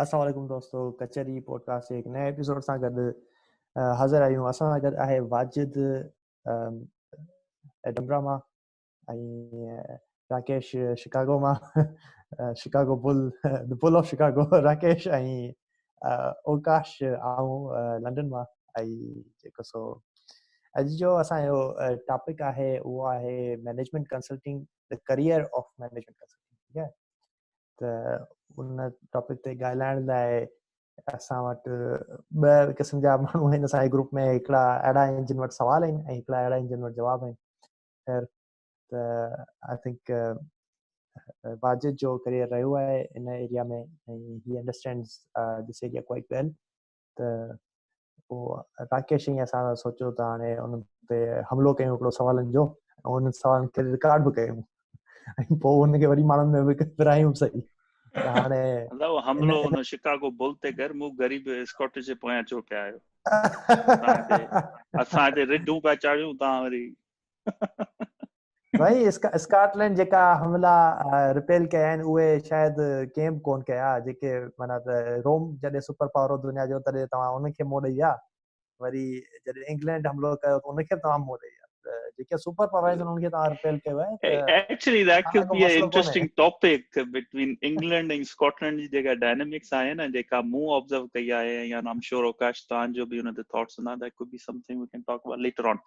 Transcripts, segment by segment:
السلام عليڪم دوستو ڪچهري پوڊڪاسٽ جي هڪ نئين ايپيسوڊ سان گڏ حاضر آهيون اسان سان گڏ آهي واجد ڊمرا مان ۽ راڪيش شڪاگو مان Chicago bill the bill of Chicago Rakesh ۽ Akash آئون لنڊن مان ۽ جيڪو سو اڄ جو اسانجو ٽاپڪ آهي اهو آهي management consulting career of management consulting ٺيڪ آهي ته ان ٽاپڪ تي ڳالهائڻ لاء اسان وٽ ٻه قسم جا ماڻهو آهن اسان جي گروپ ۾ هڪڙا اهڙا آهن جن وٽ سوال آهن ۽ هڪڙا اهڙا آهن جن وٽ جواب آهن خير ته آء ٿنڪ واجد جو ڪريئر رهيو آهي ان ايريا ۾ ۽ هي انڊرسٽينڊز ڏسي جي ڪوئي ڳالهه ته پوء راڪيش ۽ اسان سوچيو ته هاڻي ان تي حملو ڪيون هڪڙو سوالن جو ۽ ان سوالن کي رڪارڊ به ڪيون ۽ پوء ان کي وري ماڻهن ۾ ورايون سهي هاڻي حملو ان شڪاگو بل تي ڪر مون غريب اسڪاٽش جي پويان ڇو پيا آهيو اسان هتي رڍون پيا چاڙهيون تان وري سائين اسڪاٽ لينڊ جيڪا حملا رپيل ڪيا آهن اهي شايد ڪنهن به ڪون ڪيا جيڪي معنيٰ روم جڏهن سپر پاور دنيا جو تڏهن توهان ان کي موڙ ڏئي آ وري جڏهن انگلينڊ حملو ڪيو ان کي به توهان موڙ ڏئي آ جيڪي سپر پاور آهن انهن کي توهان رپيل ڪيو آهي actually that could be a interesting topic between England ۽ Scotland جي جيڪا ڊائنامڪس آهي نه جيڪا مون آبزرو ڪئي آهي يا آم شور اوڪاش توهان جو به ان تي ٿاٽس هوندا that could be something we can talk about later on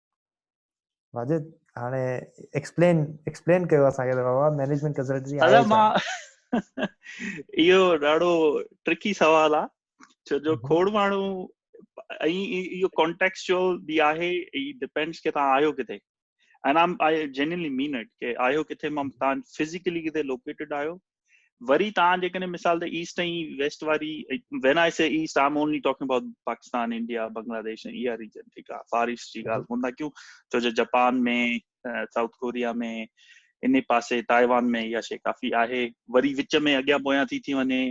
Wajid هاڻي ايڪسپلين ايڪسپلين ڪيو اسان کي بابا مينيجمنٽ ڪنسلٽنسي آهي ادا مان اهو ڏاڍو ٽرڪي سوال آ ڇو جو کوڙ ماڻهو ۽ اهو ڪانٽيڪس جو به آهي اي ڊيپينڊس ڪي تان آيو ڪٿي انا آي جينيلي مين اٽ ڪي آيو ڪٿي مان تان فزيڪلي ڪٿي لوڪيٽيڊ آيو وري تان جيڪڏهن مثال ته ايسٽ ۽ ويسٽ واري when I say east I'm only talking about Pakistan India Bangladesh ۽ اها ريجن ٺيڪ آهي فار ايسٽ جي ڳالهه ڪون ٿا ڪيون ڇو جو جپان ۾ سائوٿ ڪوريا ۾ ان پاسي تائيوان ۾ اها شي ڪافي آهي وري وچ ۾ اڳيان پويان ٿي ٿي وڃي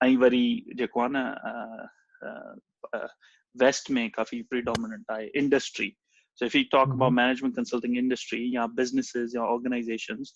۽ وري جيڪو آهي نه ويسٽ ۾ ڪافي پريڊومننٽ آهي industry so if you talk about management consulting industry يا بزنسز يا آرگنائزيشنز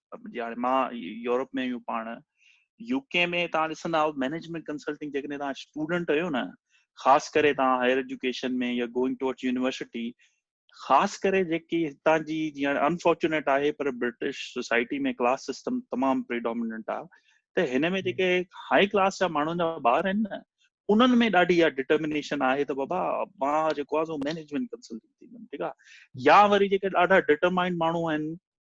جي هاڻي مان يورپ ۾ آهيون پاڻ يو ڪي ۾ تان ڏسندا آهيو مينيجمينٽ ڪنسلٽنگ جيڪڏهن تان اسٽوڊنٽ آهيو نه خاص ڪري تان هائر ايجوڪيشن ۾ يا گوئنگ ٽوورڊ يونيورسٽي خاص ڪري جيڪي هتان جي جي هاڻي انفارچونيٽ آهي پر برٽش سوسائٽي ۾ ڪلاس سسٽم تمام پريڊوميننٽ آهي ته هن ۾ جيڪي هاء ڪلاس جا ماڻهن جا ٻار آهن نه انهن ۾ ڏاڍي اها ڊٽرمنيشن آهي ته بابا مان جيڪو آهي سو مينيجمينٽ ڪنسلٽنگ ٿيندم ٺيڪ آهي يا وري جيڪي ڏاڍا ڊٽرمائنڊ ماڻهو آهن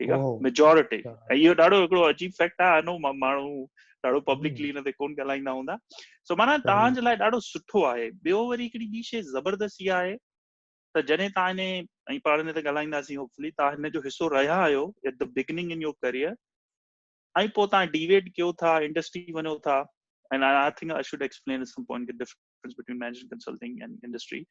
ٺيڪ آ ميجورٽي اهو ڏاڍو هڪڙو عجيب فيڪٽ آ انو ماڻهو ڏاڍو پبلڪلي ان تي ڪون ڳالهائيندا هوندا سو معنيٰ توهان جي لاء ڏاڍو سٺو آهي ٻيو وري هڪڙي ٻي شي زبردست اها آهي ته جڏهن توهان اني ۽ پاڻ ان تي ڳالهائينداسين هوپفلي توهان هن جو حصو رهيا آهيو at the beginning in your career ۽ پوء توهان ڊيويٽ ڪيو ٿا انڊسٽري وڃو ٿا and I, I think I should explain at some point the difference difference between management consulting and industry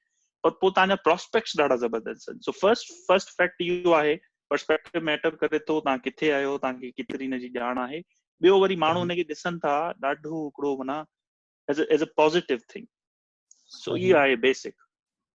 پر پوء تان جا پراسپيڪٽس ڏاڍا زبردست آهن سو فرسٽ فرسٽ فيڪٽ اهو آهي پرسپيڪٽو ميٽر ڪري ٿو تان ڪٿي آيو تان کي ڪيتري ان جي ڄاڻ آهي ٻيو وري ماڻهو ان کي ڏسن ٿا ڏاڍو هڪڙو منا as as a positive thing so هي آهي بيسڪ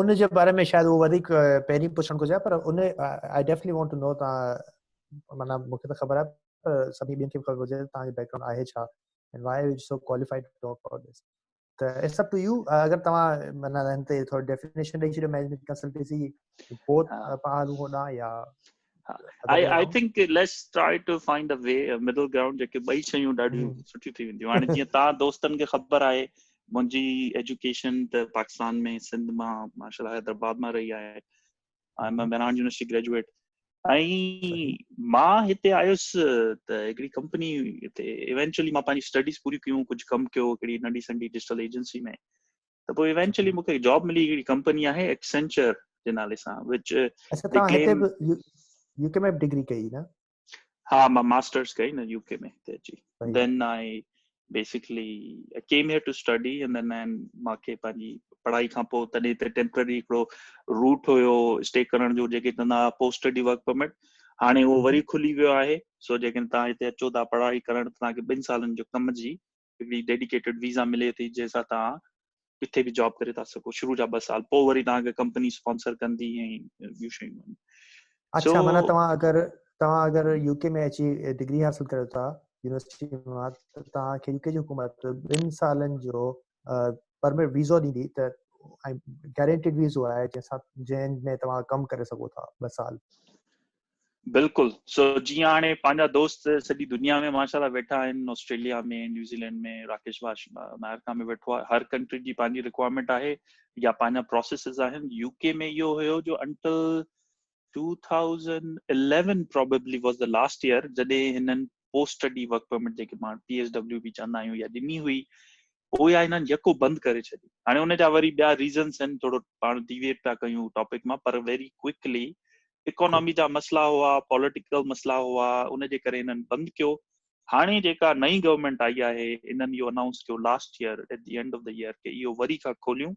ان جي باري ۾ شايد اهو وڌيڪ پهرين پڇڻ گهرجي پر ان آء ڊيفنٽلي وانٽ ٽو نو ته معنيٰ مون کي ته خبر آهي پر سڀني ٻين کي به خبر هجي ته تنهنجو بيڪ گرائونڊ آهي ڇا and why are you so qualified to talk about this ته اٽس اپ ٽو يو اگر توهان معنيٰ هن تي ٿورو ڊيفينيشن ڏيئي ڇڏيو مينيجمينٽ ڪنسلٽنسي بوٿ پهلو هوندا يا I think let's try to find a way a middle ground جيڪي ٻئي شيون ڏاڍيون سٺيون ٿي وينديون هاڻي جيئن تان دوستن کي خبر آهي منهنجي ايجوڪيشن ته پاڪستان ۾ سنڌ مان ماشاء الله حيدرآباد مان رهي آهي I am Mehran university graduate ۽ مان هتي آيس ته هڪڙي ڪمپني هتي ايونچولي مان پنهنجي اسٽڊيز پوريون ڪيون ڪجهه ڪم ڪيو هڪڙي ننڍي سنڍي ڊجيٽل ايجنسي ۾ ته پوء ايونچولي مون کي جاب ملي هڪڙي ڪمپني آهي ايڪسنچر جي نالي سان وچ اچھا تان هتي به يو ڪي ۾ ڊگري ڪئي نه ها مان ماسترز ڪئي نه يو ڪي ۾ هتي جي دين آئي basically I came here to study and then I مان کي پنهنجي پڙهائي کان پوء تڏهن هتي ٽيمپرري هڪڙو روٽ هيو اسٽي ڪرڻ جو جيڪي چوندا هئا پوسٽ اسٽڊي ورڪ پرمٽ هاڻي اهو وري کلي ويو آهي سو جيڪڏهن تان هتي اچو ٿا پڙهائي ڪرڻ تان کي ٻن سالن جو ڪم جي ڪمپليٽلي ڊيڊيڪيٽيڊ ويزا ملي ٿي جنهن سان توهان ڪٿي به جاب ڪري ٿا سگهو شروع جا ٻه سال پوء وري توهان کي ڪمپني اسپانسر ڪندي ۽ ٻيون شيون آهن اڇا معنيٰ توهان اگر توهان اگر يو ڪي ۾ اچي ڊگري حاصل ڪريو ٿا يونيورسٽي مان ته توهان کي يو ڪي جي حڪومت ٻن سالن جو پرمٽ ويزو ڏيندي ته ۽ گارنٽيڊ ويزو آهي جنهن سان جنهن ۾ توهان ڪم ڪري سگهو ٿا ٻه سال بلڪل سو جيئن هاڻي پنهنجا دوست سڄي دنيا ۾ ماشاء الله ويٺا آهن آسٽريليا ۾ نيوزيلينڊ ۾ راڪيش باش امريڪا ۾ ويٺو آهي هر ڪنٽري جي پنهنجي رڪوائرمينٽ آهي يا پنهنجا پروسيسز آهن يو ڪي ۾ اهو هيو جو until 2011 probably was the last year جڏهن هنن پوسٽ اسٽڊي ورڪ پرمٽ جيڪي پاڻ پي ايس ڊبليو به چوندا آهيون يا ڏني هئي هو يا هنن يڪو بند ڪري ڇڏي هاڻي ان جا وري ٻيا ريزنس آهن ٿورو پاڻ ڊيويٽ پيا ڪيون ٽاپڪ مان پر ويري ڪوئڪلي اڪانامي جا مسئلا هئا پوليٽيڪل مسئلا هئا ان جي ڪري هنن بند ڪيو هاڻي جيڪا نئي گورنمنٽ آئي آهي انهن اهو انائونس ڪيو last year at the end of the year ڪي اهو وري کان کوليون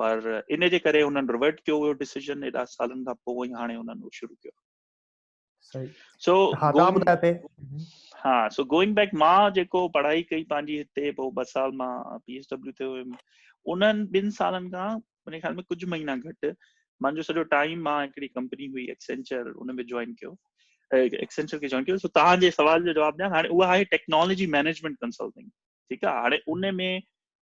پر ان جي ڪري هنن ريورٽ ڪيو هيو ڊيسيزن ايڏا سالن کان پوء ۽ هاڻي هنن اهو شروع ڪيو سو ها سو گوئنگ بيڪ مان جيڪو پڙهائي ڪئي پنهنجي هتي پوء ٻه سال مان پي ايس ڊبليو تي هيم انهن ٻن سالن کان منهنجي خيال ۾ ڪجهه مهينا گهٽ منهنجو سڄو ٽائيم مان هڪڙي ڪمپني هئي ايڪسينچر ان ۾ جوائن ڪيو ايڪسينچر کي جوائن ڪيو سو توهان جي سوال جو جواب ڏيان هاڻي اها آهي ٽيڪنالاجي مينيجمنٽ ڪنسلٽنگ ٺيڪ آهي هاڻي ان ۾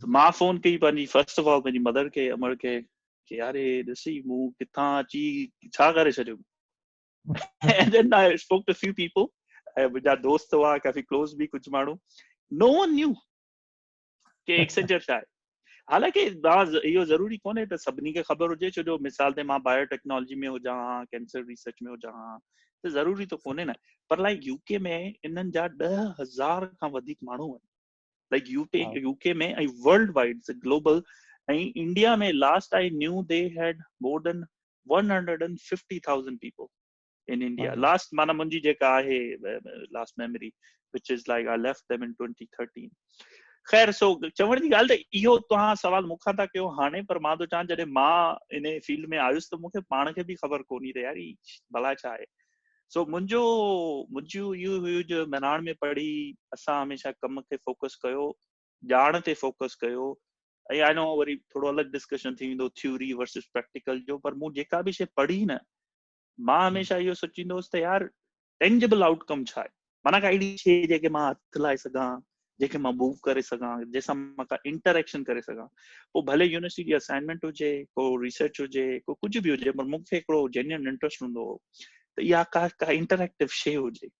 ته مان فون ڪئي پنهنجي فرسٽ آف آل پنهنجي مدر کي امڙ کي کي يار هي ڏسي مون ڪٿان اچي ڇا ڪري ڇڏيو and then I spoke to a few people ۽ منهنجا دوست هئا ڪافي ڪلوز به ڪجهه ماڻهو نو ون نيو ڪي ايڪسنجر ڇا آهي حالانڪ اهو ضروري ڪونهي ته سڀني کي خبر هجي ڇو جو مثال تي مان بايو ٽيڪنالاجي ۾ هجان ها ڪينسر ريسرچ ۾ هجان ها ته ضروري ته ڪونهي نه پر لائڪ يو ڪي ۾ انهن جا ڏهه هزار کان وڌيڪ ماڻهو آهن like you to U K ۾ ۽ worldwide global ۽ India ۾ last I knew they had more than 150000 people in India last معنی منهنجي جيڪا آهي last memory which is like a left them in 2013 خير سو چوڻ جي ڳالهه ته اهو توهان سوال مون کان ٿا ڪيو هاڻي پر مان ٿو چاهيان جڏهن مان ان فيلڊ ۾ آيس ته مون کي پاڻ کي به خبر ڪونهي ته يار هي بلا ڇا آهي سو منهنجو منهنجو اهو هيو جو مهراڻ ۾ پڙهي اسان هميشه ڪم کي فوڪس ڪيو ڄاڻ تي فوڪس ڪيو ۽ آئي نو وري ٿورو الڳ ڊسڪشن ٿي ويندو ٿيوري ورسز پريڪٽيڪل جو پر مون جيڪا به شي پڙهي نه مان هميشه اهو سوچيندو هوس ته يار ٽينجبل آئوٽ ڪم ڇا آهي معنيٰ ڪا اهڙي شيء جنهن کي مان هٿ لائي سگهان، جنهن کي مان موو ڪري سگهان، جنهن سان مان ڪا انٽريڪشن ڪري سگهان. پوء ڀلي يونيورسٽي جي اسائنمينٽ هجي، ڪو ريسرچ هجي، ڪو ڪجهه به هجي پر مون کي هڪڙو جينيون انٽريسٽ هوندو هو ته اها ڪا ڪا انٽريڪٽو شيء هجي.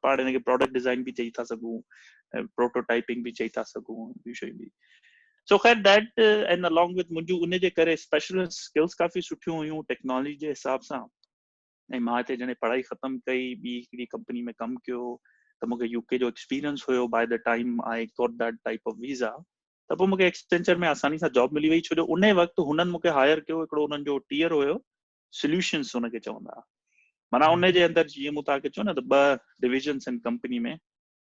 پاڻ ان کي پراڊڪٽ ڊزائن به چئي ٿا سگهون، پروٽو ٽائپنگ به چئي ٿا سگهون، ٻيون شيون به. سو خير ڊيٽ اينڊ الانگ وٿ منهنجون ان جي ڪري اسپيشلسٽ اسڪلس ڪافي سٺيون هيون ٽيڪنالاجي جي حساب سان. ۽ مان هتي جڏهن پڙهائي ختم ڪئي ٻي هڪڙي ڪمپني ۾ ڪم ڪيو ته مونکي يو ڪي جو ايڪسپيرينس هيو by the time I got that type of visa ته پوء مونکي ايڪسپينچر ۾ آساني سان جاب ملي وئي ڇو جو ان وقت هنن مونکي هائر ڪيو هڪڙو هنن جو ٽيئر هيو سوليوشنس هن کي چوندا معنيٰ ان جي اندر جيئن مون توهان کي چيو نه ته ٻه ڊويزنس آهن ڪمپني ۾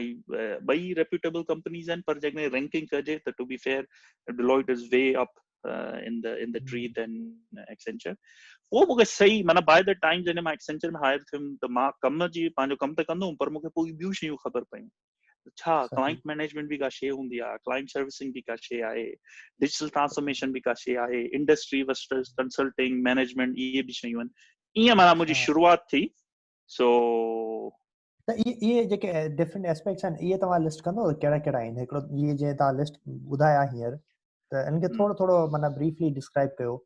۽ ٻئي ريپيوٽيبل ڪمپنيز آهن پر جيڪڏهن رينڪنگ ڪجي ته to be fair Deloitte is way up in the in the tree then Accenture پوء مونکي صحيح معنی باء ديٽ ٽائيم جڏهن مان ايڪسينچر ۾ هائر ٿيم ته مان ڪم جي پنهنجو ڪم ته ڪندو هوم پر مونکي پوء ٻيون شيون خبر پيون ڇا ڪلائنٽ مينيجمنٽ به ڪا شي هوندي آهي ڪلائنٽ سروسنگ به ڪا شي آهي ڊجيٽل ٽرانسفارميشن به ڪا شي آهي انڊسٽري وسٽرس ڪنسلٽنگ مينيجمنٽ اهي به شيون آهن ائين معنی منهنجي شروعات ٿي سو ته اهي اهي جيڪي ڊفرنٽ اسپيڪٽس آهن اهي توهان لسٽ ڪندو ڪهڙا ڪهڙا آهن هڪڙو اهي جي توهان لسٽ ٻڌايا هينئر ته ان کي ٿورو ٿورو معنی بريفلي ڊسڪرائب ڪيو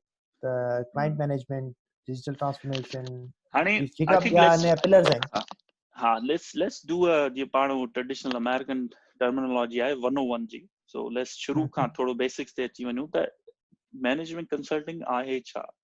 ته ڪلائنٽ مينيجمنٽ ڊيجيٽل ٽرانسفارميشن هاڻي جيڪا به آهن پلرز آهن ها ليٽس ليٽس ڊو ا جي پاڻ ٽريڊيشنل امريڪن ٽرمينالوجي آهي 101 جي سو ليٽس شروع کان ٿورو بيسڪس تي اچي وڃون ته مينيجمنٽ ڪنسلٽنگ آهي ڇا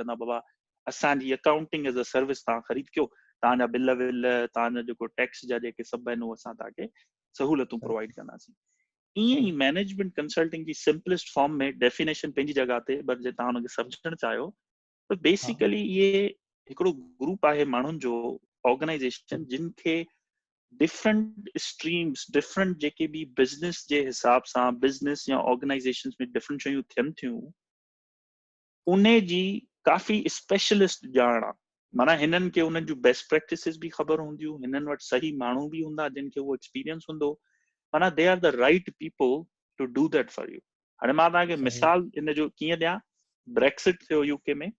چوندا آهن بابا اسان جي اڪائونٽنگ ايز اي سروس تان خريد ڪيو تان جا بل ول تان جا جيڪو ٽيڪس جا جيڪي سڀ آهن اسان تان کي سهولتون پرووائيڊ ڪنداسين ائين ئي مينيجمنٽ ڪنسلٽنگ جي سمپلسٽ فارم ۾ ڊيفينيشن پنهنجي جڳهه تي بر جي تان ان کي سمجهڻ چاهيو ته بيسيڪلي اهي هڪڙو گروپ آهي ماڻهن جو آرگنائيزيشن جن کي ڊفرنٽ اسٽريمس ڊفرنٽ جيڪي به بزنس جي حساب سان بزنس يا آرگنائيزيشن ۾ ڊفرنٽ شيون ٿين ٿيون انهي جي ڪافي اسپيشلسٽ ڄاڻ آ معنيٰ هنن کي انهن جون بيسٽ پريڪٽسز به خبر هونديون هنن وٽ صحيح ماڻهو به هوندا جن کي اهو ايڪسپيرينس هوندو معنيٰ they are the right people to do that for you هاڻي مان توهان کي مثال ان جو ڪيئن ڏيان بريڪسٽ ٿيو يو ڪي ۾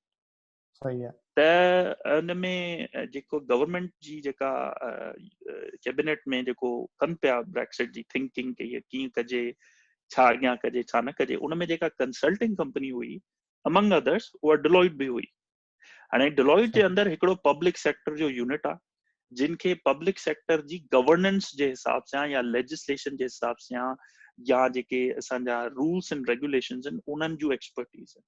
صحيح آ ته ان ۾ جيڪو گورنمنٽ جي جيڪا ڪيبنيٽ ۾ جيڪو ڪن پيا بريڪسٽ جي ٿنڪنگ ڪي ڪيئن ڪجي ڇا اڳيان ڪجي ڇا نه ڪجي ان ۾ جيڪا ڪنسلٽنگ ڪمپني هئي امنگ ادرس اها ڊلوئٽ به هئي هاڻي ڊلوئٽ جي اندر هڪڙو پبلڪ سيڪٽر جو يونٽ آهي جن کي پبلڪ سيڪٽر جي گورننس جي حساب سان يا ليجسليشن جي حساب سان يا جيڪي اسان جا رولس اينڊ ريگوليشنز آهن انهن جون ايڪسپرٽيز آهن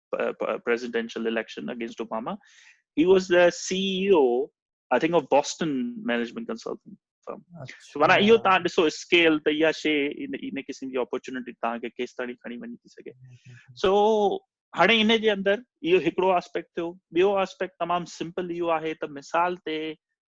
presidential election against Obama he was the C E O I think of Boston management consulting firm مانا اهو تان ڏسو اسڪيل ته اها شي ان قسم جي اپورچونيٽي تان کي ڪيس تائين کڻي وڃي ٿي سگهي سو هاڻي ان جي اندر اهو هڪڙو آسپيڪٽ ٿيو ٻيو آسپيڪٽ تمام سمپل اهو آهي ته مثال تي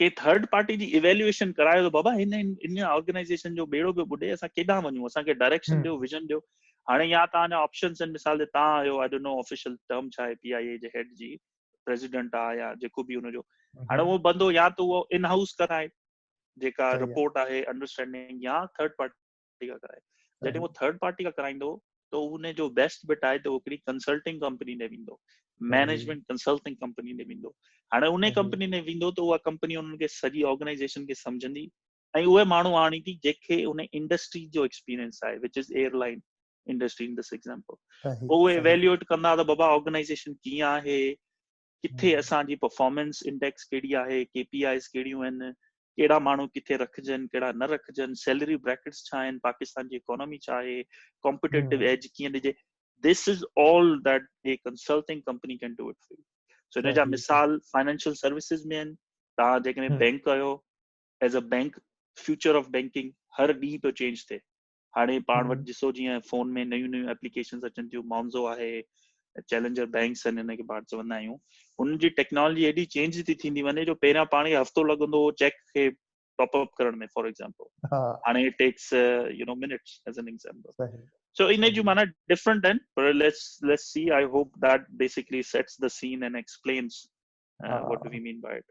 ڪنهن ٿرڊ پارٽي جي ايويلوئيشن ڪرايو ته بابا هن ان آرگنائيزيشن جو ٻيڙو پيو ٻڏي اسان ڪيڏانهن وڃون اسان کي ڊائريڪشن ڏيو ويزن ڏيو هاڻي يا تان اڃا آپشنز آهن مثال جي تان آيو I don't know official term ڇا آهي پي آء اي جي هيڊ جي پريزيڊنٽ آ يا جيڪو به ان جو هاڻي اهو بندو يا ته اهو ان هائوس ڪرائي جيڪا رپورٽ آهي انڊرسٽينڊنگ يا ٿرڊ پارٽي پارٽي کان ڪرائي جڏهن هو ٿرڊ پارٽي کان ڪرائيندو ته ان جو بيسٽ بٽ آهي ته هو هڪڙي ڪنسلٽنگ ڪمپني ڏي ويندو مينيجمنٽ ڪنسلٽنگ ڪمپني ڏي ويندو هاڻي ان ڪمپني ۾ ويندو ته اها ڪمپني انهن کي سڄي آرگنائزيشن کي سمجهندي ۽ اهي ماڻهو آڻي ٿي جيڪي ان انڊسٽري جو ايڪسپيرينس آهي which is airline industry in this example اهي ايويلويٽ ڪندا ته بابا آرگنائزيشن ڪيئن آهي ڪٿي اسان جي پرفارمنس انڊيڪس ڪهڙي آهي، ڪي پي آئيز ڪهڙيون آهن، ڪهڙا ماڻهو ڪٿي رکجن ڪهڙا نه رکجن، سيلري بريڪٽس ڇا آهن، پاڪستان جي اڪانامي ڇا آهي، ڪامپيٽيٽو ايج ڪيئن ڏجي، this is all that a consulting company can do it for you. So ان جا مثال فائنينشل سروسز ۾ آهن، توهان جيڪڏهن بينڪ آهيو، as a bank future of banking هر ڏينهن پيو چينج ٿئي. هاڻي پاڻ وٽ ڏسو جيئن فون ۾ نيون نيون ايپليڪيشنز اچن ٿيون مانزو آهي چيلنجر بينڪس آهن هن کي پاڻ چوندا آهيون ان جي ٽيڪنالاجي ايڏي چينج ٿي ٿيندي وڃي جو پهريان پاڻ کي هفتو لڳندو هو چيڪ کي ٽاپ اپ ڪرڻ ۾ فار ايگزامپل هاڻي it takes you know minutes as in example so ان جون معنيٰ ڊفرنٽ آهن پر let's let's see I hope that basically sets the scene and explains what do we mean by it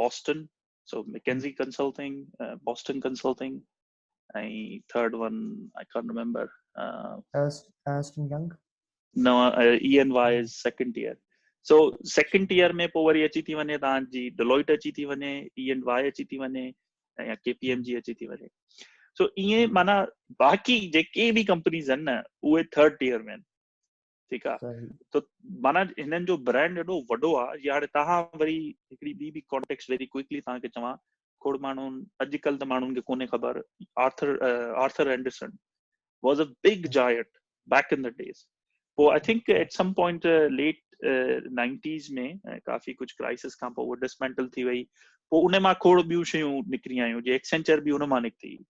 Boston so McKinsey consulting Boston consulting ۽ third one I can't remember Ernst and Young no E and Y is second tier so second tier ۾ پوء وري اچي ٿي وڃي تان جي Deloitte اچي ٿي وڃي اي اين واء اچي ٿي وڃي يا ڪي پي ايم جي اچي ٿي وڃي سو ايئن معنی باقي جيڪي به ڪمپنيز آهن نه اهي ٿرڊ ٽيئر ۾ آهن ٺيڪ آ ته معنيٰ هنن جو برانڊ ايڏو وڏو آ جي هاڻي توهان وري هڪڙي ٻي به ڪانٽيڪس ويري ڪوئڪلي توهان کي چوان کوڙ ماڻهو اڄڪلهه ته ماڻهن کي ڪونهي خبر Arthur Arthur Andersen was a big giant back in the days پوء I think at some point late nineties ۾ ڪافي ڪجهه ڪرائسس کان پوء ڊسمينٽل ٿي وئي پوء ان مان کوڙ ٻيون شيون نڪري آيون جي ايڪسينچر به ان مان نڪتي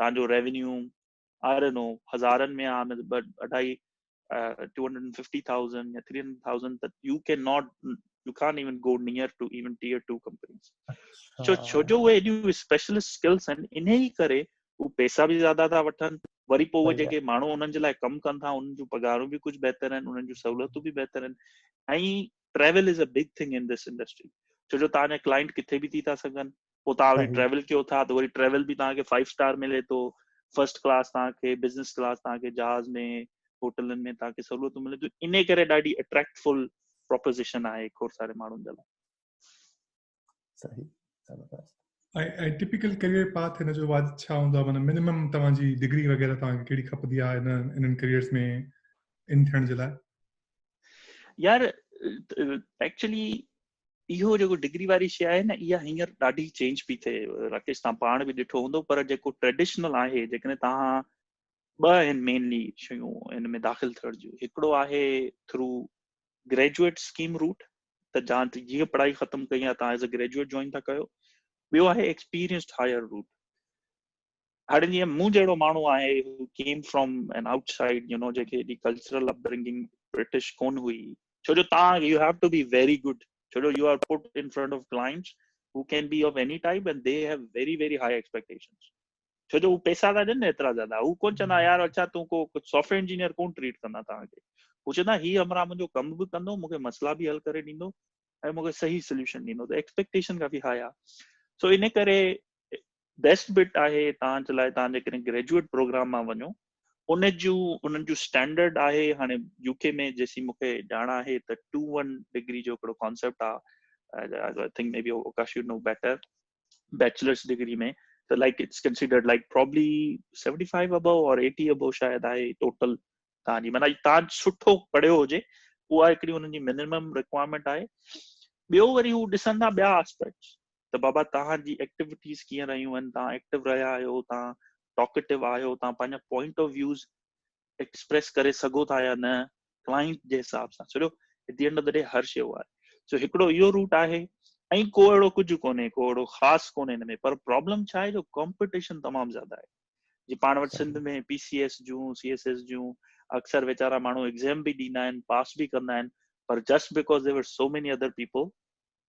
تان جو ريونيو آئي ڊونٽ نو هزارن ۾ آ نه ته اڍائي ٽو هنڊريڊ ففٽي ٿائوزنڊ يا ٿري هنڊريڊ ٿائوزنڊ ته you can not you can't even go near to even tier two companies ڇو ڇو جو اهي ايڏيون اسپيشلسٽ اسڪلس آهن انهي ڪري هو پئسا به زياده ٿا وٺن وري پوء اهي جيڪي ماڻهو انهن جي لاء ڪم ڪن ٿا انهن جون پگهارون به ڪجهه بهتر آهن انهن جون سهولتون به بهتر آهن ۽ travel is a big thing in this industry ڇو جو تهان جا ڪلائنٽ ڪٿي به ٿي ٿا سگهن پوء توهان وٽ ٽريول ڪيو ٿا ته وري ٽريول به توهان کي فائيو اسٽار ملي ٿو فرسٽ ڪلاس توهان کي بزنس ڪلاس توهان کي جهاز ۾ هوٽلن ۾ توهان کي سهولتون ملي ٿيون ان ڪري ڏاڍي اٽريڪٽفل پروپوزيشن آهي کور ساري ماڻهن جي لاء صحيح زبردست ۽ ٽپيڪل ڪيريئر پاٿ هن جو واجب ڇا هوندو آهي معنی منيمم توهان جي ڊگري وغيره توهان کي ڪهڙي کپندي آهي هن انهن ڪيريئرز ۾ ان ٿيڻ جي لاء يار ايڪچولي اهو جيڪو ڊگري واري شي آهي نه اها هينئر ڏاڍي چينج پي ٿئي راڪيش تان پاڻ به ڏٺو هوندو پر جيڪو ٽريڊيشنل آهي جيڪڏهن تان ٻه آهن مينلي شيون ان ۾ داخل ٿيڻ جون هڪڙو آهي ٿرو گريجويٽ اسڪيم روٽ ته جان جيئن پڙهائي ختم ڪئي آهي تان ايز اي گريجويٽ جوائن ٿا ڪيو ٻيو آهي ايڪسپيرينسڊ هائر روٽ هاڻي جيئن مون جهڙو ماڻهو آهي هو came from in outside you know جيڪي جي ڪلچرل اپ برنگنگ برٽش ڪون هئي ڇو جو تان you have to be very good ڇو جو you are put in front of clients هو can be of any type and they have very very high expectations ڇو جو هو پيسا ٿا ڏين ايترا زياده هو ڪون چوندا يار اچا تون ڪو ڪجهه سافٽويئر انجنيئر ڪون ٽريٽ ڪندا تان کي هو چوندا هي همرا منهنجو ڪم به ڪندو مونکي مسئلا به حل ڪري ڏيندو ۽ مونکي صحيح سوليوشن ڏيندو ته ايڪسپيڪٽيشن ڪافي هاء آ سو ان ڪري بيسٽ بٽ آهي توهان جي لاء توهان جيڪڏهن گريجوئيٽ پروگرام مان وڃو ان جون انهن جون اسٽينڊرڊ آهي هاڻي يو ڪي ۾ جيسين مون کي ڄاڻ آهي ته ٽو ون ڊگري جو هڪڙو ڪانسيپٽ آهي I think maybe Okash you know better bachelor's degree ۾ ته like it's considered like probably seventy five above or eighty above شايد آهي ٽوٽل توهان جي معنی توهان سٺو پڙهيو هجي اها هڪڙي هنن جي منيمم رڪوائرمينٽ آهي ٻيو وري هو ڏسندا ٻيا آسپيڪٽس ته بابا توهان جي ايڪٽيوٽيز ڪيئن رهيون آهن توهان ايڪٽو رهيا آهيو توهان ٽاڪيٽو آهيو توهان پنهنجا پوائنٽ آف ويوز ايڪسپريس ڪري سگهو ٿا يا نه ڪلائنٽ جي حساب سان سڄو at the end of the هر شيء آهي سو هڪڙو اهو روٽ آهي ۽ ڪو اهڙو ڪجهه ڪونهي ڪو اهڙو خاص ڪونهي هن ۾ پر پرابلم ڇا آهي جو ڪمپٽيشن تمام زياده آهي جي پاڻ وٽ سنڌ ۾ پي سي ايس جون سي ايس ايس جون اڪثر ويچارا ماڻهو ايگزام به ڏيندا آهن پاس به ڪندا آهن پر just because there were so many other people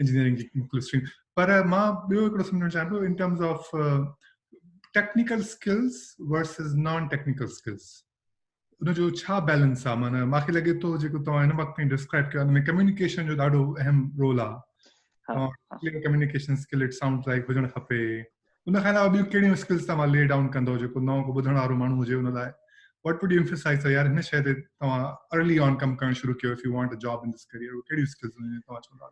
engineering جي مختلف اسٽريم پر مان ٻيو هڪڙو سمجهڻ چاهيان ٿو in terms of technical skills versus non technical skills ان جو ڇا بيلنس آهي معنی ماکي لڳي ٿو جيڪو توهان هن وقت تائين ڊسڪرائب ڪيو ان ۾ ڪميونيڪيشن جو ڏاڍو اهم رول آهي communication skill it sound like هجڻ کپي ان کان علاوه ٻيون ڪهڙيون اسڪلز توهان لي ڊائون ڪندو جيڪو نئون ڪو ٻڌڻ وارو ماڻهو هجي ان لاء وٽ وڊ انفسائز ته يار هن شي تي توهان ارلي آن ڪم ڪرڻ شروع ڪيو if you want a job in this career ڪهڙيون اسڪلز هجن توهان چوندا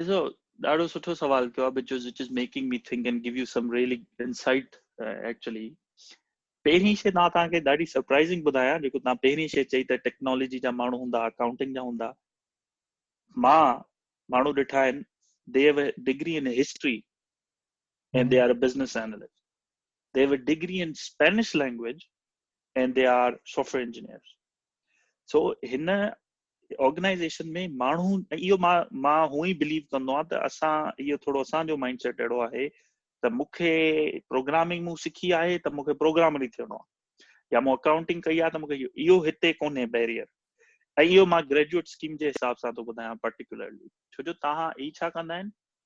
ڏسو ڏاڍو سٺو سوال ڪيو بچو which is making me think and give you some really insight actually پهرين شي نا تان کي ڏاڍي سرپرائزنگ ٻڌايا جيڪو نا پهرين شي چئي ته ٽيڪنالاجي جا ماڻهو هوندا اڪاؤنٽنگ جا هوندا مان ماڻهو ڏٺا آهن they have a degree in history and they are a business analyst. They have a degree in Spanish language and they are software engineers. So هن آرگنائزيشن ۾ ماڻهو اهو مان مان هو ئي بليو ڪندو آهيان ته اسان اهو ٿورو اسان جو مائنڊ سيٽ اهڙو آهي ته مون کي پروگرامنگ مون سکي آهي ته مون کي پروگرامر ئي ٿيڻو آهي يا مون اڪائونٽنگ ڪئي آهي ته مون کي اهو هتي ڪونهي بيريئر ۽ اهو مان گريجويٽ اسڪيم جي حساب سان ٿو ٻڌايان پرٽيڪولرلي ڇو جو تهان هي ڇا ڪندا آهن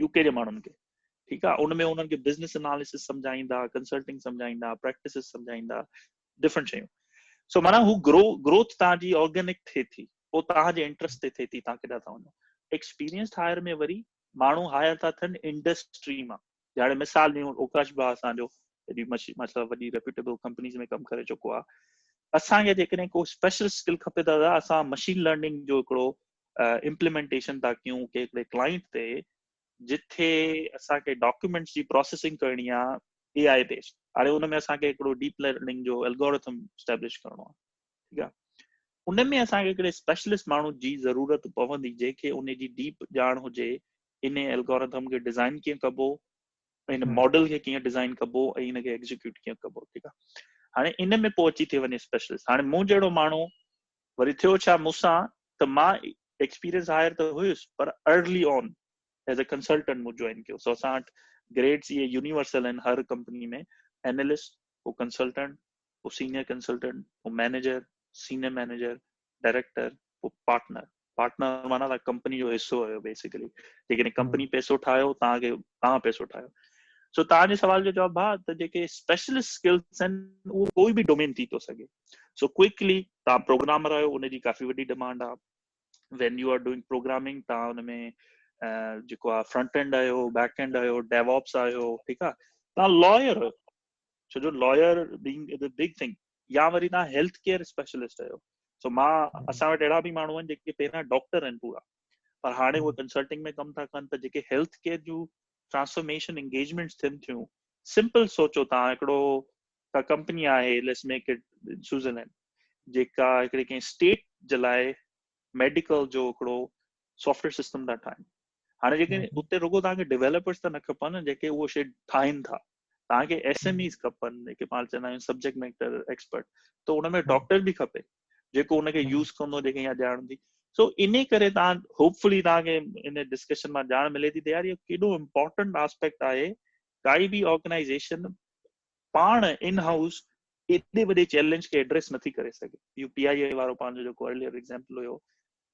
يو ڪي جي ماڻهن کي ٺيڪ آ ان ۾ انهن کي بزنس اناليسس سمجهائيندا ڪنسلٽنگ سمجهائيندا پريڪٽسز سمجهائيندا ڊفرنٽ شيون سو معنيٰ هو گرو گروٿ تان جي آرگينڪ ٿئي ٿي پوء تان جي انٽرسٽ تي ٿئي ٿي تان ڪيڏا ٿا وڃو ايڪسپيرينس هائر ۾ وري ماڻهو هائر ٿا ٿين انڊسٽري مان جهڙي مثال ڏيون اوڪاش ڀاء اسان جو ايڏي مشهور وڏي ريپيوٽيبل ڪمپنيز ۾ ڪم ڪري چڪو آهي اسان کي جيڪڏهن ڪو اسپيشل اسڪل کپي ته دادا اسان مشين لرننگ جو هڪڙو امپليمنٽيشن ٿا ڪيون ڪي هڪڙي ڪلائنٽ تي جتي اسان کي ڊاڪيومينٽس جي پروسيسنگ ڪرڻي آهي اي آء بيسڊ هاڻي ان ۾ اسان کي هڪڙو ڊيپ لرننگ جو الگورٿم اسٽيبلش ڪرڻو آهي ٺيڪ آ ان ۾ اسان کي هڪڙي اسپيشلسٽ ماڻهو جي ضرورت پوندي جنهن کي ان جي ڊيپ ڄاڻ هجي ان الگورٿم کي ڊيزائن ڪيئن ڪبو ان ماڊل کي ڪيئن ڊيزائن ڪبو ۽ ان کي ايگزيڪيوٽ ڪيئن ڪبو ٺيڪ آ هاڻي ان ۾ پوء اچي ٿي وڃي اسپيشلسٽ هاڻي مون جهڙو ماڻهو وري ٿيو ڇا مون سان ته مان ايڪسپيرينس هائر ته هيس پر early on as a consultant مون جوائن ڪيو سو اسان وٽ گريڊس اهي يونيورسل آهن هر ڪمپني ۾ اينالسٽ پوء ڪنسلٽنٽ پوء سينيئر ڪنسلٽنٽ، پوء مئنيجر، سينيئر مئنيجر، ڊائريڪٽر، پوء پارٽنر. پارٽنر معنيٰ تان ڪمپني جو حصو آهيو بيسڪلي. جيڪڏهن ڪمپني پئسو ٺاهيو توهان کي توهان پئسو ٺاهيو. سو توهان جي سوال جو جواب ڀاء ته جيڪي اسپيشلسٽ اسڪلس آهن اهو ڪوئي به ڊومين ٿي ٿو سگهي. سو ڪوئڪلي توهان پروگرامر آهيو ان جي ڪافي وڏي ڊمانڊ آهي. When you are doing programming توهان ان ۾ جيڪو آهي فرنٽ اينڊ آهيو، بيڪ اينڊ آهيو، ڊيووپس آهيو ٺيڪ آهي. توهان لائر آهيو. ڇو جو lawyer being is a big thing يا وري تان هيلٿ ڪيئر اسپيشلسٽ آهيو سو مان اسان وٽ اهڙا به ماڻهو آهن جيڪي پهريان ڊاڪٽر آهن پورا پر هاڻي هو ڪنسلٽنگ ۾ ڪم ٿا ڪن ته جيڪي هيلٿ ڪيئر جون ٽرانسفارميشن انگيجمنٽس ٿين ٿيون سمپل سوچو تان هڪڙو ڪا ڪمپني آهي ليس ميڪ اٽ سوئزرلينڊ جيڪا هڪڙي ڪنهن اسٽيٽ جي لاء ميڊيڪل جو هڪڙو سافٽويئر سسٽم ٿا ٺاهن هاڻي جيڪي اتي رڳو توهان کي ڊيولپرز ته نه کپن جيڪي اهو شي ٺاهين ٿا توهان کي ايس ايم ايز کپن جيڪي پاڻ چوندا آهيون سبجيڪٽ ميٽر ايڪسپرٽ ته ان ۾ ڊاڪٽر به کپي جيڪو ان کي يوز ڪندو جيڪي اها ڄاڻ هوندي سو ان ڪري توهان هوپفلي توهان کي ان ڊسڪشن مان ڄاڻ ملي ٿي ته يار اهو ڪيڏو امپورٽنٽ آسپيڪٽ آهي ڪائي به آرگنائزيشن پاڻ ان هائوس ايڏي وڏي چيلنج کي ايڊريس نٿي ڪري سگهي يو پي آئي اي وارو پنهنجو جيڪو ارليئر ايگزامپل هيو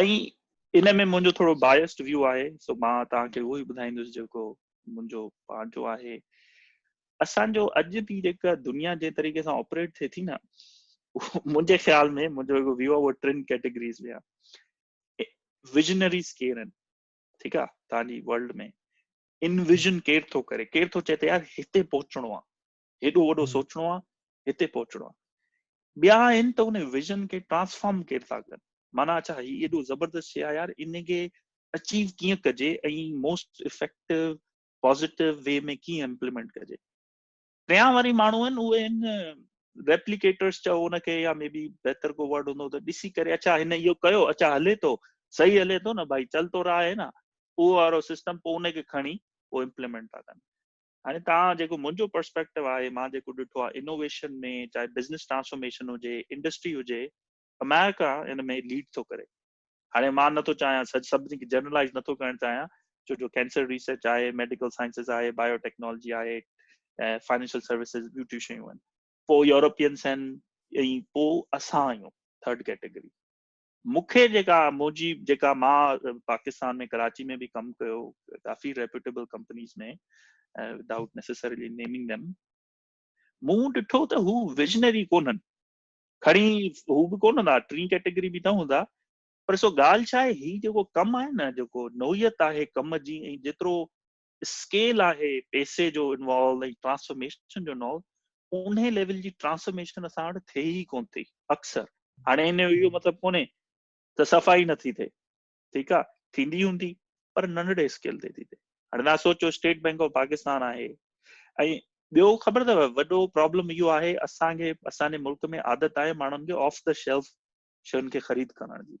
۽ ان ۾ منهنجو ٿورو بايسڊ ويو آهي سو مان توهان کي اهو ئي ٻڌائيندس جيڪو منهنجو پنهنجو آهي اسان جو اڄ جي جيڪا دنيا جي طريقي سان آپريٽ ٿئي ٿي نه منهنجي خيال ۾ منهنجو هڪ ويو آهي ٽن ڪيٽيگريز ۾ آهي ويجنريز ڪير آهن ٺيڪ آهي توهان جي ورلڊ ۾ انويجن ڪير ٿو ڪري ڪير ٿو چئي ته يار هتي پهچڻو آهي هيڏو وڏو سوچڻو آ هتي پهچڻو آ ٻيا آهن ته ان ويزن کي ٽرانسفارم ڪير ٿا ڪن معنيٰ اڇا هي ايڏو زبردست شيء آ يار ان کي اچيو ڪيئن ڪجي ۽ موسٽ افيڪٽو پازيٽو وي ۾ ڪيئن امپليمينٽ ڪجي ٽيان واري ماڻهو آهن اهي آهن ريپليڪيٽرس چئو ان کي يا مي بي بهتر ڪو ورڊ هوندو ته ڏسي ڪري اچا هن اهو ڪيو اچا هلي ٿو صحيح هلي ٿو نه ڀائي چل تو رها آهي نه اهو وارو سسٽم پوء ان کي کڻي پوء امپليمينٽ ٿا ڪن هاڻي توهان جيڪو منهنجو پرسپيڪٽو آهي مان جيڪو ڏٺو آهي انوويشن ۾ چاهي بزنس ٽرانسفارميشن هجي انڊسٽري هجي اميرڪا ان ۾ ليڊ ٿو ڪري هاڻي مان نٿو چاهيان سچ سڀني کي جنرلائز نٿو ڪرڻ چاهيان ڇو جو ڪينسر ريسرچ آهي ميڊيڪل سائنسز آهي بايو ٽيڪنالاجي آهي فائنينشل سروسز ٻيون ٽيون شيون آهن پوء يورپينس آهن ۽ پوء اسان آهيون ٿرڊ ڪيٽيگري مون کي جيڪا منهنجي جيڪا مان پاڪستان ۾ ڪراچي ۾ به ڪم ڪيو ڪافي reputable companies ۾ without necessarily naming them مون ڏٺو ته هو ويجنري ڪونهن کڻي هو به ڪون هوندا ٽين ڪيٽيگري به نه هوندا پر سو ڳالهه ڇا آهي هي جيڪو ڪم آهي نه جيڪو نوعيت آهي ڪم جي ۽ جيترو اسڪيل آهي پئسي جو انوالو ۽ ٽرانسفارميشن جو انوالو انهي ليول جي ٽرانسفارميشن اسان وٽ ٿئي ئي ڪون ٿي اڪثر هاڻي ان جو اهو مطلب ڪونهي ته صفائي نٿي ٿئي ٺيڪ آ ٿيندي هوندي پر ننڍڙي اسڪيل تي ٿي ٿئي هاڻي تها سوچو اسٽيٽ بئنڪ آف پاڪستان آهي ۽ ٻيو خبر اٿو وڏو پرابلم اهو آهي اسان کي اسان جي ملڪ ۾ عادت آهي ماڻهن کي آف دا شيلف شين کي خريد ڪرڻ جي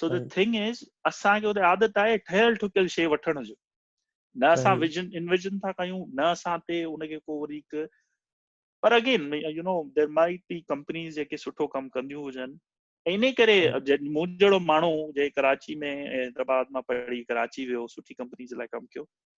سو دي ٿنگ از اسان کي اتي عادت آهي ٺهيل ٺڪيل شي وٺڻ جو نه اسان ويجن ان ويجن ٿا ڪيون نه اسان تي ان کي ڪو وري هڪ پر again you know there may be companies جيڪي سٺو ڪم ڪنديون هجن ان ڪري مون جهڙو ماڻهو جي ڪراچي ۾ حيدرآباد مان پڙهي ڪراچي ويو سٺي ڪمپنيز لاء ڪم ڪيو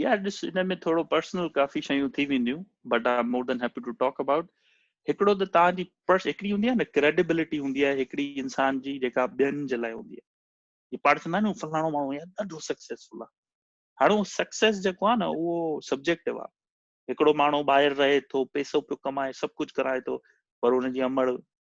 يا ڏس ان ۾ ٿورو پرسنل ڪافي شيون ٿي وينديون but I more than happy to talk about هڪڙو ته تان جي پرس هڪڙي هوندي آهي نه ڪريڊيبلٽي هوندي آهي هڪڙي انسان جي جيڪا ٻين جي لاء هوندي آهي جي پاڻ چوندا آهن فلاڻو ماڻهو يا ڏاڍو سڪسيسفل آهي هاڻو سڪسيس جيڪو آهي نه اهو سبجيڪٽو آهي هڪڙو ماڻهو ٻاهر رهي ٿو پيسو پيو ڪمائي سڀ ڪجهه ڪرائي ٿو پر ان جي امڙ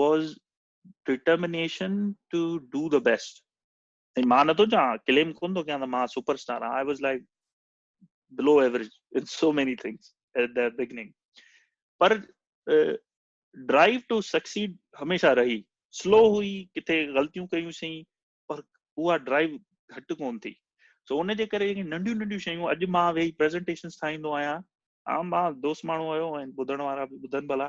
was determination to do the best ۽ مان نٿو چاهيان ڪليم ڪون ٿو ڪيان ته مان سپر اسٽار آهيان I was like below average in so many things at the beginning پر ڊرائيو ٽو سڪسيڊ هميشه رهي سلو هئي ڪٿي غلطيون ڪيون سين پر اها ڊرائيو گهٽ ڪون ٿي سو ان جي ڪري ننڍيون ننڍيون شيون اڄ مان ويهي پريزنٽيشنس ٺاهيندو آهيان عام مان دوست ماڻهو هيو ۽ ٻڌڻ وارا به ٻڌن ڀلا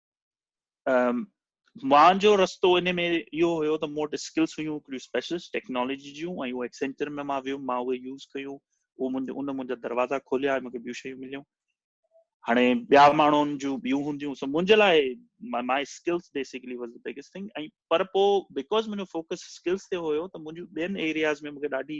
مانجو رستو ان ۾ اهو هيو ته مون وٽ اسڪلس هيون هڪڙيون اسپيشلسٽ ٽيڪنالاجي جون ۽ اهو ايڪسينچر ۾ مان ويم مان اهي يوز ڪيون اهو منهنجو ان منهنجا دروازا کوليا مونکي ٻيون شيون مليون هاڻي ٻيا ماڻهن جون ٻيون هونديون سو منهنجي لاء my skills basically was the biggest thing ۽ پر پوء بيڪاز منهنجو فوڪس اسڪلس تي هيو ته منهنجو ٻين ايرياز ۾ مونکي ڏاڍي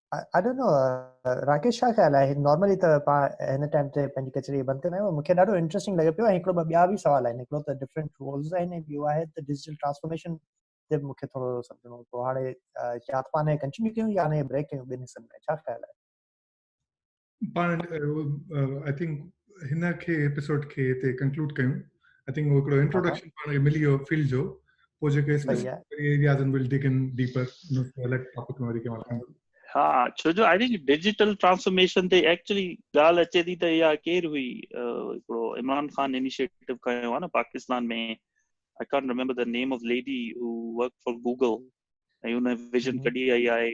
آئي ڊونٽ نو راڪيش ڇا خيال آهي نارملي ته پاڻ هن ٽائيم تي پنهنجي ڪچهري بند ڪندا آهيون مون کي ڏاڍو انٽريسٽنگ لڳي پيو ۽ هڪڙو ٻه ٻيا به سوال آهن هڪڙو ته ڊفرنٽ رولز آهن ۽ ٻيو آهي ته ڊجيٽل ٽرانسفارميشن تي مون کي ٿورو سمجهڻو هو پوء هاڻي يا ته پاڻ کنچ نڪيون يا نه بريڪ ڪيون ٻن حصن ۾ ڇا خيال آهي پاڻ آئي ٿنڪ هن کي ايپيسوڊ کي هتي ڪنڪلوڊ ڪيون آئي ٿنڪ هڪڙو انٽروڊڪشن پاڻ کي ملي ويو فيلڊ جو پوء جيڪي اسپيسيفڪ ايرياز ان ول ڊگ ان ڊيپر ان کي الڳ ٽاپڪ وري ڪيون ٿا ها ڇو جو آئي ٿنڪ ڊجيٽل ٽرانسفارميشن تي ايڪچولي ڳالهه اچي ٿي ته اها ڪير هئي هڪڙو عمران خان انيشيٽو ڪيو آ نه Pakistan ۾ I can't remember the name of lady who work for Google ۽ هن ويزن ڪڍي آئي آهي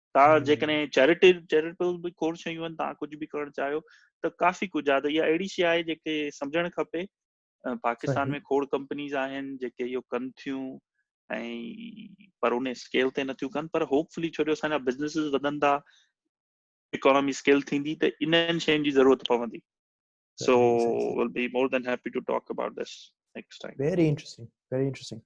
توهان جيڪڏهن چيريٽي چيريٽيبل به کوڙ شيون آهن توهان ڪجهه به ڪرڻ چاهيو ته ڪافي ڪجهه آهي ته اها اهڙي شي آهي جيڪي سمجهڻ کپي پاڪستان ۾ کوڙ ڪمپنيز آهن جيڪي اهو ڪن ٿيون ۽ پر ان اسڪيل تي نٿيون ڪن پر هوپ فلي ڇو جو اسان جا بزنس وڌن ٿا اڪانومي اسڪيل ٿيندي ته انهن شين جي ضرورت پوندي so will be more than happy to talk about this next time very interesting very interesting